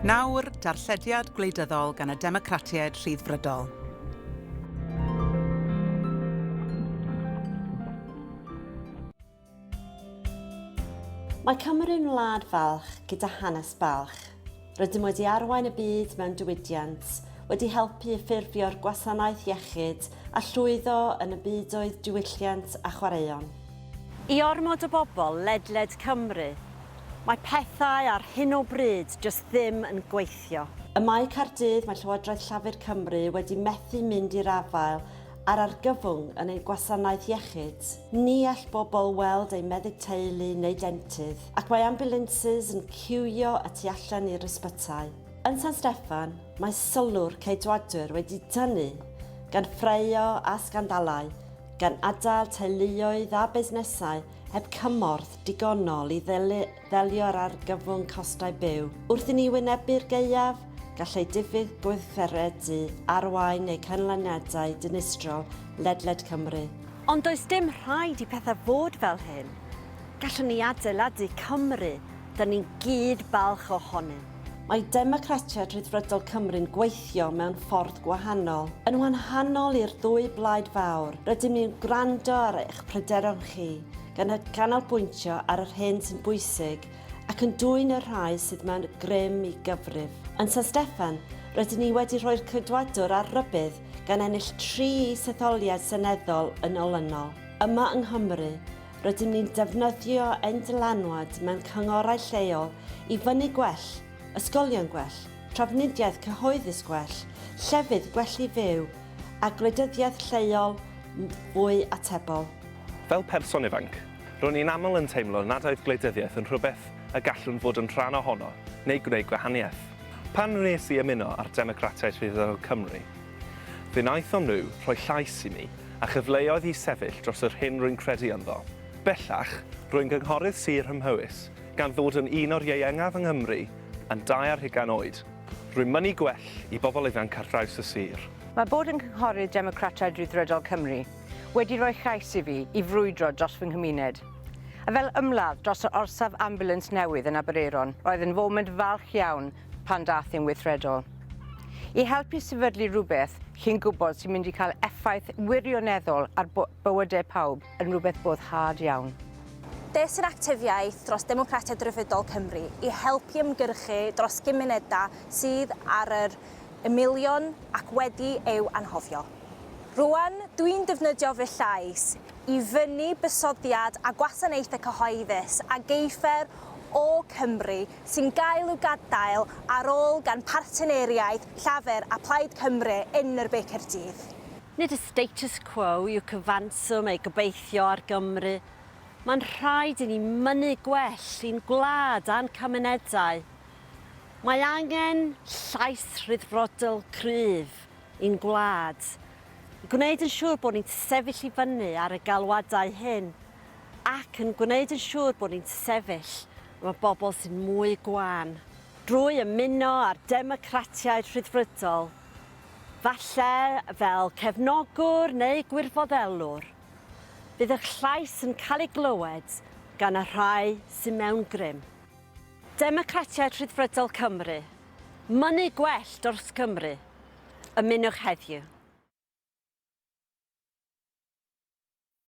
Nawr, darllediad gwleidyddol gan y Democratiaid Rhyddfrydol. Mae Cymru'n wlad falch gyda hanes balch. Rydym wedi arwain y byd mewn diwydiant, wedi helpu i ffurfio'r gwasanaeth iechyd a llwyddo yn y byd oedd diwylliant a chwaraeon. I ormod o bobl ledled Cymru, mae pethau ar hyn o bryd jyst ddim yn gweithio. Ym Mae Caerdydd, mae Llywodraeth Llafur Cymru wedi methu mynd i'r afael â'r argyfwng yn ein gwasanaeth iechyd. Ni all bobl weld eu meddyg teulu neu dentydd. Ac mae ambiwlansys yn ciwio y tu allan i'r ysbytai. Yn San Steffan, mae sylw'r Ceidwadwyr wedi tynnu gan ffraeo a sgandalau, gan adael teuluoedd a busnesau heb cymorth digonol i ddelio â'r argyfwng costau byw. Wrth i ni wynebu'r gaeaf, gallai diffyg gweithredu arwain neu canlyniadau dinistrol ledled Cymru. Ond does dim rhaid i pethau fod fel hyn. Gallwn ni adeiladu Cymru dyn ni'n gyd balch ohonynt. Mae Democratiaid Rhyddfrydol Cymru'n gweithio mewn ffordd gwahanol. Yn wanhanol i'r ddwy blaid fawr, rydym ni'n gwrando ar eich pryderon chi, gan ganolbwyntio ar yr hyn sy'n bwysig ac yn dwyn y rhai sydd mewn grym i gyfrif. Yn San Steffan, rydyn ni wedi rhoi'r Ceidwadwr ar rybudd gan ennill tri is-etholiad seneddol yn olynol. Yma yng Nghymru, Rydym ni'n defnyddio ein dylanwad mewn cyngorau lleol i fynnu gwell, ysgolion gwell, trafnidiaeth cyhoeddus gwell, llefydd gwell i fyw, a gwleidyddiaeth lleol fwy atebol. Fel person ifanc, ro'n i'n aml yn teimlo nad oedd gwleidyddiaeth yn rhywbeth y gallwn fod yn rhan ohono neu gwneud gwahaniaeth. Pan wnes i ymuno â'r Democratiaid Rhyddfrydol Cymru, Fe wnaethon nhw rhoi llais i mi a chyfleoedd i sefyll dros yr hyn rwy'n credu ynddo. Bellach, rwy'n gynghorydd sir ym Mhowys, gan ddod yn un o'r ieuengaf yng Nghymru yn dau ar hugain oed. Rwy'n mynnu gwell i bobl ifanc ar draws y sir. Mae bod yn Gynghorydd Democratiaid Rhyddfrydol Cymru wedi rhoi llais i fi i frwydro dros fy nghymuned. A fel ymladd dros yr orsaf ambiwlans newydd yn Aberaeron, roedd yn foment falch iawn pan daeth yn weithredol. I helpu sefydlu rhywbeth chi'n gwybod sy'n mynd i cael effaith wirioneddol ar bywydau pawb yn rhywbeth boddhad iawn. Des i'r actifiaeth dros Democratiaid Rhyfeddol Cymru i helpu ymgyrchu dros gymunedau sydd ar yr ymylion ac wedi eu anghofio. Rwan, dwi'n defnyddio fy llais i fynnu bysoddiad a gwasanaethau cyhoeddus a geifer o Cymru sy'n gael i'w gadael ar ôl gan partneriaid Llafur a Plaid Cymru yn yr Be Caerdydd. Nid y status quo yw cyfanswm ei gobeithio ar Gymru. Mae'n rhaid i ni mynnu gwell i'n gwlad a'n cymunedau. Mae angen llais rhyddfrodol cryf i'n gwlad, i gwneud yn siŵr bod ni'n sefyll i fyny ar y galwadau hyn. ac yn gwneud yn siŵr bod ni'n sefyll efo bobl sy'n mwy gwan. Drwy ymuno â'r Democratiaid Rhyddfrydol, falle fel cefnogwr neu gwirfoddellwr, bydd eich llais yn cael ei glywed gan y rhai sy'n mewn grym. Democratiaid Rhyddfrydol Cymru, mynnu gwell dros Cymru, ymunwch heddiw.